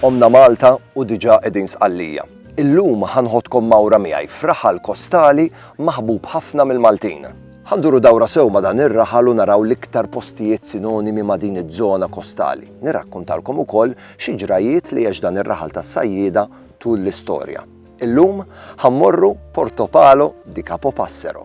Qomna Malta u diġà qegħdin Sqallija. Illum ħa nħoddkom mgħawra miegħi f'raħal kostali maħbub ħafna mill-Maltin. Ħa nduru dawra sew ma' dan ir-raħal u naraw l-iktar postijiet sinonimi ma' din iż-żona kostali. Nirrakkuntalkom ukoll xi ġrajjiet li għex dan ir-raħal tas-sajjieda tul l-istorja. Illum ħa mmorru Portopalo di Capopassero.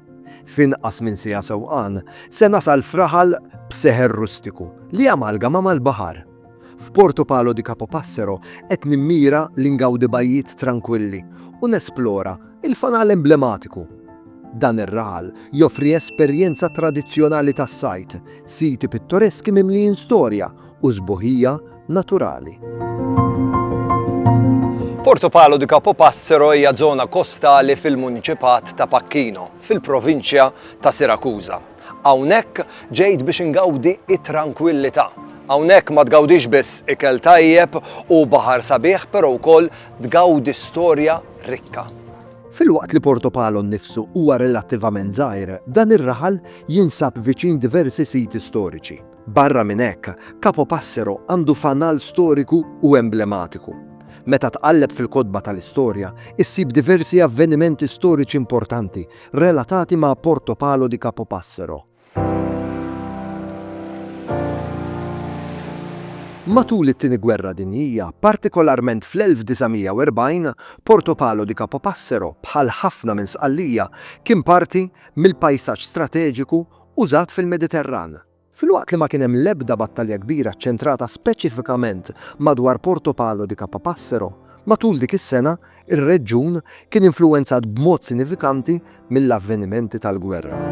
F'inqas minn siegħa sewqan, se nasal f'raħal b'seħer rustiku li jamalgama mal-baħar. F'Porto Palo di Capopassero qed nimmira li ngawdi bajjiet trankwilli u nesplora l-fanal emblematiku. Dan ir-raħal joffri esperjenza tradizzjonali tas-sajd, siti pittoreski mimlijin storja, u sbuħija naturali. Porto Palo di Capopassero hija żona kostali fil-muniċipat ta' Pacchino, fil-provinċja ta' Sirakuża. Hawnhekk ġejt biex ingawdi it-trankwillità. Hawnhekk ma tgawdix biss ikel tajjeb u baħar sabiħ, però wkoll tgawdi storja rikka. Filwaqt li Porto Palo nnifsu huwa relattivament żgħir, dan ir-raħal jinsab viċin diversi siti storiċi. Barra minn hekk, Capo Passero għandu fanal storiku u emblematiku. Meta tqalleb fil-kotba tal-istorja, issib diversi avvenimenti storiċi importanti relatati ma' Porto Palo di Capo Passero. Matul it-Tieni Gwerra Dinjija, partikolarment fl-1940, Porto Palo di Capo Passero, bħal ħafna minn Sqallija, kien parti mill-pajsaġġ strateġiku użat fil-Mediterran. Filwaqt li ma kien hemm l-ebda battalja kbira ċċentrata speċifikament madwar Porto Palo di Capapassero, matul dik is-sena r-reġjun kien influwenzat b'mod sinifikanti mill-avvenimenti tal-gwerra.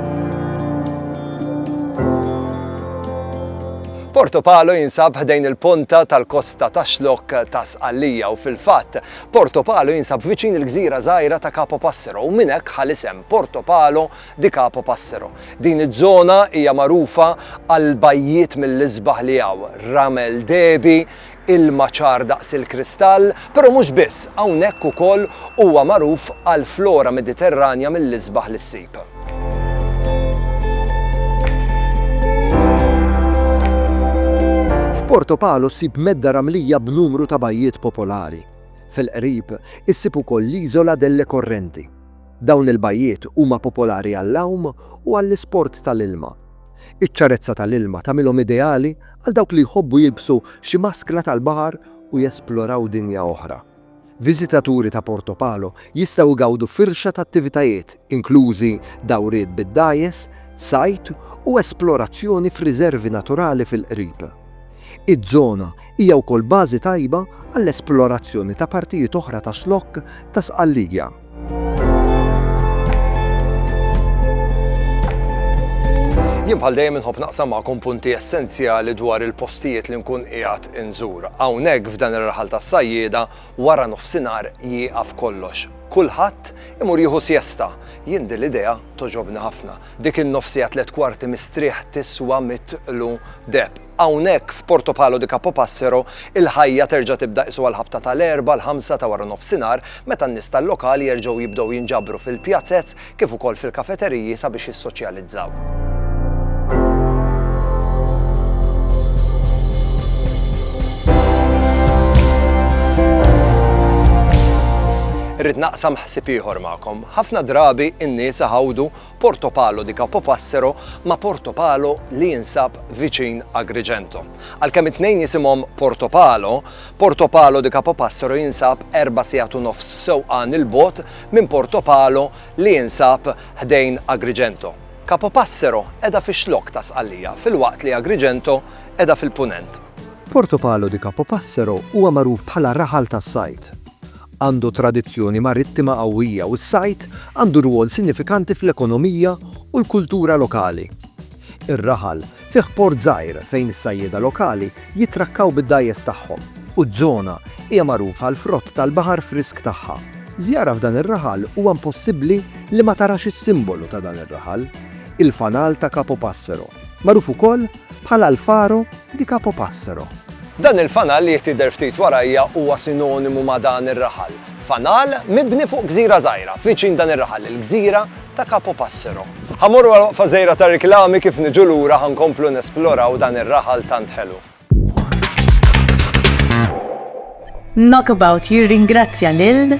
Porto Palo jinsab ħdejn il-ponta tal-kosta tax-xlokk ta' Sqallija u fil-fatt Porto Palo jinsab viċin il-gżira żgħira ta' Capo Passero u minn hekk ħal isem Porto Palo di Capo Passero. Din iż-żona hija magħrufa għall-bajjiet mill-isbaħ li hawn, ramel dehbi, ilma ċar daqs il-kristall, però mhux biss, hawnhekk ukoll huwa magħruf għal flora Mediterranja mill-isbaħ li ssib. F'Porto Palo ssib medda ramlija b'numru ta' bajjiet popolari. Fil-qrib issib ukoll l-Isola delle Correnti. Dawn il-bajjiet huma popolari għall-għawm u għall-isport tal-ilma. Iċ-ċarezza tal-ilma tagħmilhom ideali għal dawk li jħobbu jilbsu xi maskla tal-baħar u jesploraw dinja oħra. Viżitaturi ta' Porto Palo jistgħu jgawdu firxa ta' attivitajiet, inklużi dawriet bid-dgħajjes, sajd u esplorazzjoni f'riżervi naturali fil-qrib. Iż-żona hija wkoll bażi tajba għall-esplorazzjoni ta' partijiet oħra tax-Xlokk ta' Sqallija. Jien bħal dejjem inħobb naqsam magħkom punti essenzjali dwar il-postijiet li nkun qiegħed inżur. Hawnhekk f'dan ir-raħal tas-sajjieda wara nofsinhar jieqaf kollox. Kulħadd imur jieħu siesta. Jien din l-idea toġobni ħafna. Dik in-nofsija tliet kwarti mistrieħ tiswa mitlu deb. Hawnhekk, f'Portopalo di Capopassero, il-ħajja terġa' tibda qisu għall-ħabta ta' l-Erbgħa l-ħamsa ta' waranofsinhar meta n-nies tal-lokal jerġgħu jibdew jinġabru fil-pjazez kif ukoll fil-kafeteriji sabiex jissoċjalizzaw. Irrid naqsam ħsieb ieħor magħkom. Ħafna drabi n-nies iħawdu Porto Palo di Capopassero ma' Porto Palo li jinsab viċin Agrigento. Għalkemm it-tnejn jisimhom Porto Palo, Porto Palo di Capopassero jinsab erba' sigħat u nofs sewqan 'il bogħod minn Porto Palo li jinsab ħdejn Agrigento. Capopassero qiegħda fix-Xlokk ta' Sqallija filwaqt li Agrigento qiegħda fil-Punent. Porto Palo di Capopassero huwa magħruf bħala raħal tas-sajd. Għandu tradizzjoni marittima qawwija u s-sajd għandu rwol sinifikanti fl-ekonomija u l-kultura lokali. Ir-raħal fih port żgħir fejn is-sajjieda lokali jittrakkaw bid-dgħajjes tagħhom u ż-żona hija magħruf għall-frott tal-baħar frisk tagħha. Żjara f'dan ir-raħal huwa impossibbli li ma tarax is-simbolu ta' dan ir-raħal, il-fanal ta' Capo Passero, magħruf ukoll Bħal Alfaro di Capopassero. Dan il-fanal li jtidher ftit warajja huwa sinonimu ma' dan ir-raħal. Fanal mibni fuq gżira żgħira viċin dan ir-raħal, il-gżira ta' Capopassero. Ħa mmorru għal waqfa żgħira ta' riklami kif niġu lura ħa nkomplu nesploraw dan ir-raħal tant ħelu. Knockabout jirringrazzja lil.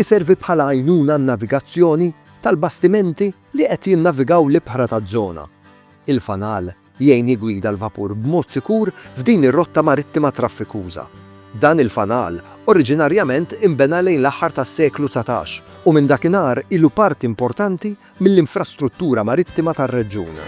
iservi bħala għajnuna għan-navigazzjoni tal-bastimenti li qed jinnavigaw l-ibħra taż-żona. Il-fanal jgħin jiggwida l-vapur b'mod sikur f'din ir-rotta marittima traffikuża. Dan il-fanal oriġinarjament inbena lejn l-aħħar tas-seklu dsatax u minn dakinhar ilu parti importanti mill-infrastruttura marittima tar-reġjun.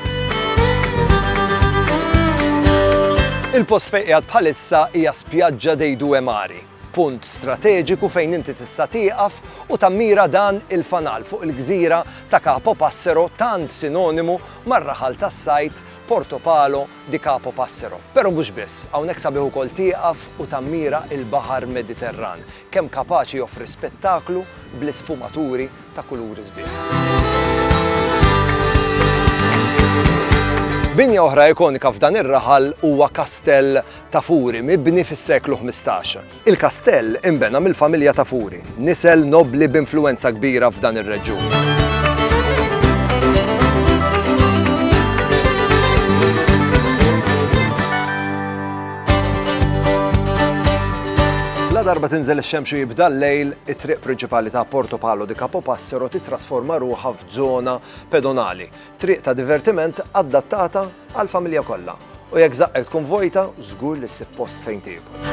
Il-post fejn qiegħed bħalissa hija Spiaggia dei Due Mari, punt strateġiku fejn inti tista' tieqaf u tammira dan il-fanal fuq il-gżira ta' Capo Passero tant sinonimu mar-raħal tas-sajd Porto Palo di Capo Passero. Però mhux biss, hawnhekk sabiħ ukoll tieqaf u tammira il-baħar Mediterran, kemm kapaċi joffri spettaklu bl-isfumaturi ta' kuluri sbieħ. Binja oħra ikonika f'dan ir-raħal huwa Kastell ta' Furi, mibni fis-seklu 15. Il-kastell inbena mill-familja ta' Furi, nisel nobli b'influwenza kbira f'dan ir-reġjun. La darba tinżel ix-xemx u jibda l-lejl, it-triq prinċipali ta' Porto Palo di Capo Passero titrasforma ruħha f'żona pedonali, triq ta' divertiment adattata għall-familja kollha. U jekk żaqqek tkun vojta, żgur li ssib post fejn tiekol.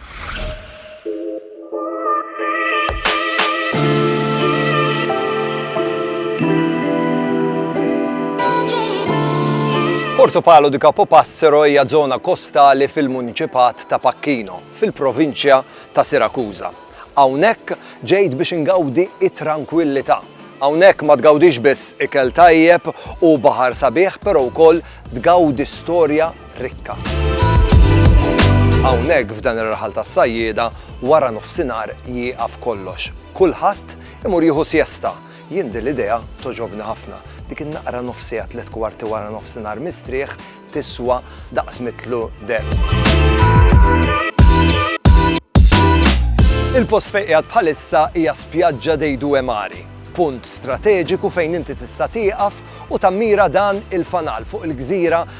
Porto Palo di Capo Passero hija żona kostali fil-muniċipat ta' Pacchino, fil-provinċja ta' Sirakuża. Hawnhekk ġejt biex ingawdi it-trankwillità. Hawnhekk ma tgawdix biss ikel tajjeb u baħar sabiħ, però wkoll tgawdi storja rikka. Hawnhekk f'dan ir-raħal tas-sajjieda wara nofsinhar jieqaf kollox. Kulħadd imur jieħu siesta. Jien din l-idea togħġobni ħafna. Dik in-naqra nofsiegħa tliet kwarti wara nofsinhar mistrieħ tiswa daqs mitlu deheb. Il-post fejn qiegħed bħalissa hija spjaġġa dei Due Mari, punt strateġiku fejn inti tista' tieqaf u tammira dan il-fanal fuq il-gżira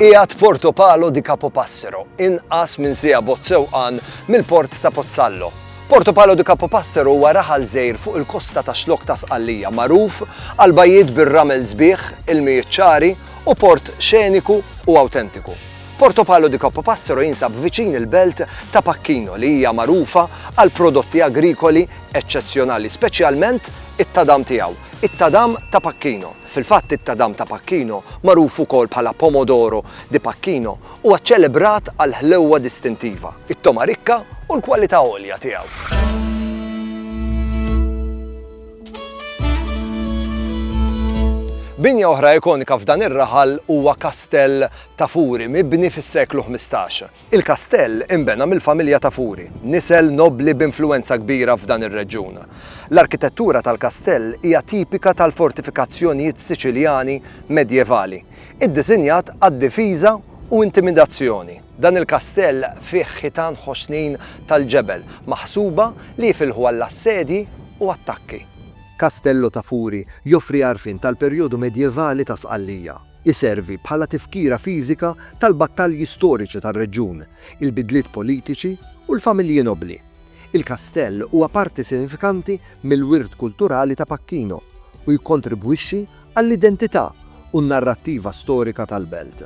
Qiegħed Porto Palo di Capopassero, inqas minn siegħa bot sewqan mill-port ta' Pozzallo, Porto Palo de Capopassero huwa raħal żgħir fuq il-kosta tax-Xlokk ta' Sqallija magħruf għal bajjiet bir-ramel sbieħ, ilmijiet ċari u port xeniku u awtentiku. Porto Palo de Capopassero jinsab viċin il-belt ta' Pacchino li hija magħrufa għal prodotti agrikoli eċċezzjonali speċjalment it-tadam tiegħu, it-tadam ta' Pacchino. Fil-fatt it-tadam ta' Pacchino, magħruf ukoll bħala Pomodoro di Pacchino, Huwa ċċelebrat għall-ħlewwa distintiva, it-togħma rikka u l-kwalità għolja tiegħu. Binja oħra ikonika f'dan ir-raħal huwa Kastell ta' Furi mibni fis-seklu 15. Il-kastell inbena mill-familja ta' Furi, nisel nobbli b'influwenza kbira f'dan ir-reġjun. L-arkitettura tal-kastell hija tipika tal-fortifikazzjonijiet Siċiljani medjevali. iddisinjat għad-difiża u intimidazzjoni. Dan il-kastell fih ħitan ħoxnin tal-ġebel, maħsuba li jifilħu għall-assedji u attakki. Castello ta' Furi joffri għarfien tal-perjodu medjevali ta' Sqallija. Iservi bħala tifkira fiżika tal-battalji storiċi tar-reġjun, il-bidliet politiċi u l-familji nobbli. Il-kastell huwa parti sinifikanti mill-wirt kulturali ta' Pacchino u jikkontribwixxi għall-identità u n-narrattiva storika tal-belt.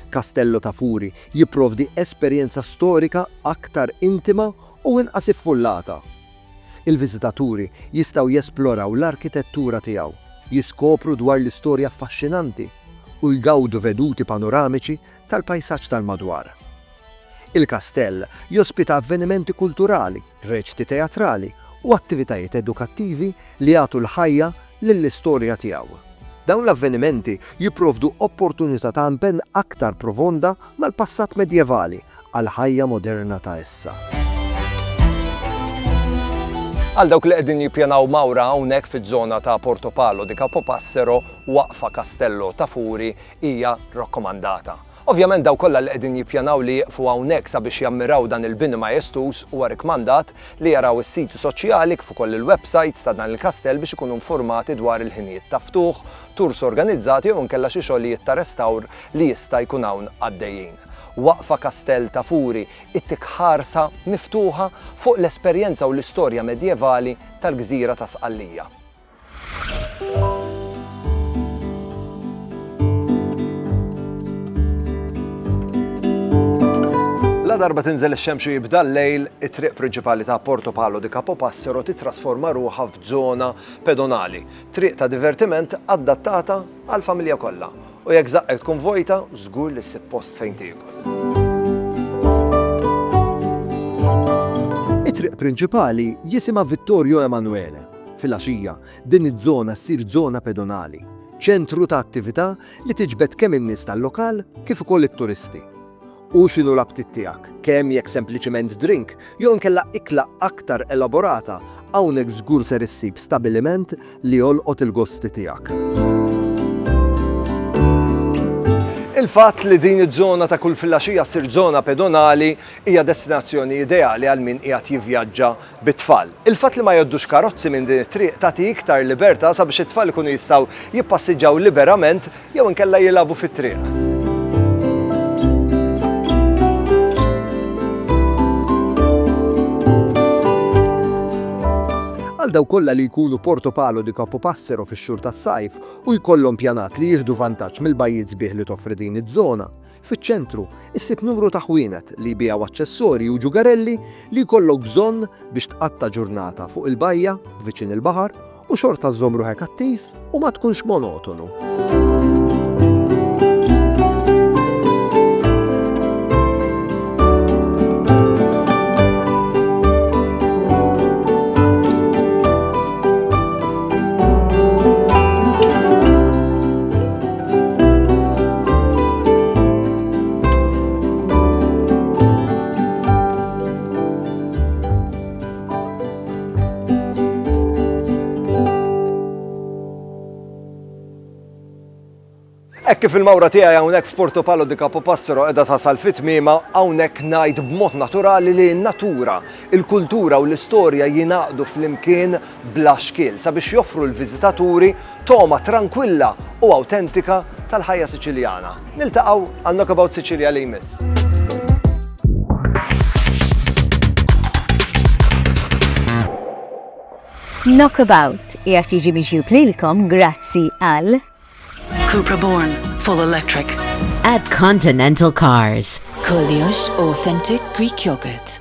Castello ta' Furi jipprovdi esperjenza storika aktar intima u inqas iffullata. Il-viżitaturi jistgħu jesploraw l-arkitettura tiegħu, jiskopru dwar l-istorja affaxxinanti, u jgawdu veduti panoramiċi tal-pajsaġġ tal-madwar. Il-kastell jospita avvenimenti kulturali, reċti teatrali u attivitajiet edukattivi li jagħtu l-ħajja lill-istorja tiegħu. Dawn l-avvenimenti jipprovdu opportunità ta' impenn aktar profonda mal-passat medjevali għall-ħajja moderna ta' issa. Għal dawk li qegħdin jippjanaw mawra hawnhekk fiż-żona ta' Portopalo di Capopassero, waqfa Castello ta' Furi hija rakkomandata. Ovvjament dawk kollha li qegħdin jippjanaw li jieqfu hawnhekk sabiex jammiraw dan il-bini majestuż huwa rikkmandat li jaraw is-siti soċjali kif ukoll il-websajts ta' dan il-kastell biex ikunu nfurmati dwar il-ħinijiet ta' ftuħ, tours organizzati jew inkella xi xogħlijiet ta' restawr li jista' jkun hawn għaddejjin. Waqfa Kastell ta' Furi ittik ħarsa miftuħa fuq l-esperjenza u l-istorja medjevali tal-gżira ta' Sqallija. La darba tinżel ix-xemx u jibda l-lejl, it-triq prinċipali ta' Porto Palo di Capo Passero titrasforma ruħha f'żona pedonali, triq ta' divertiment adattata għal familja kollha. U jekk zaqqek tkun vojta, żgur li ssib post fejn tiekol. It-triq prinċipali jisimha Vittorio Emanuele Filgħaxija, din iż-żona ssir żona pedonali, ċentru ta' attività li tiġbed kemm in-nies tal-lokal kif ukoll it-turisti. U x'inhu l-aptit tiegħek, kemm jekk sempliċement drink jew inkella ikla aktar elaborata, hawnhekk żgur ser issib stabiliment li jolqot il-gosti tiegħek. Il-fatt li din iż-żona ta' kull filgħaxija ssir żona pedonali hija destinazzjoni ideali għal min qiegħed jivvjaġġa bit-tfal. Il-fatt li ma jgħoddux karozzi minn din it-triq tagħti iktar libertà sabiex it-tfal ikunu jistgħu jippassiġġaw liberament jew inkella jilagħbu fit-triq. Għal dawk kollha li jkunu Porto Palo di Capopassero fix-xhur tas-sajf u jkollhom pjanat li jieħdu vantaġġ mill-bajjiet sbieħ li toffri din iż-żona, Fiċ-ċentru, issib numru ta' ħwienet li jbigħu aċċessorji u ġugarelli li jkollok bżonn biex tqatta' ġurnata fuq il-bajja, viċin il-baħar, u xorta żżomm ruħek attiv u ma tkunx monotonu. Hekk kif il-mawra tiegħi hawnhekk f'Porto Palo di Capo Passero qiegħda tasal fit-tmiema hawnhekk ngħid b'mod naturali li n-natura, il-kultura u l-istorja jingħaqdu flimkien bla xkiel sabiex joffru l-viżitaturi Togħma trankwilla u awtentika tal-ħajja Siċiljana. Niltaqgħu għal Knockabout Sicilia li jmiss. Knockabout jgħat jiġi miġjub lilkom grazzi għal Cupra Born Full Electric At Continental Cars Koljox Authentic Greek Yogurt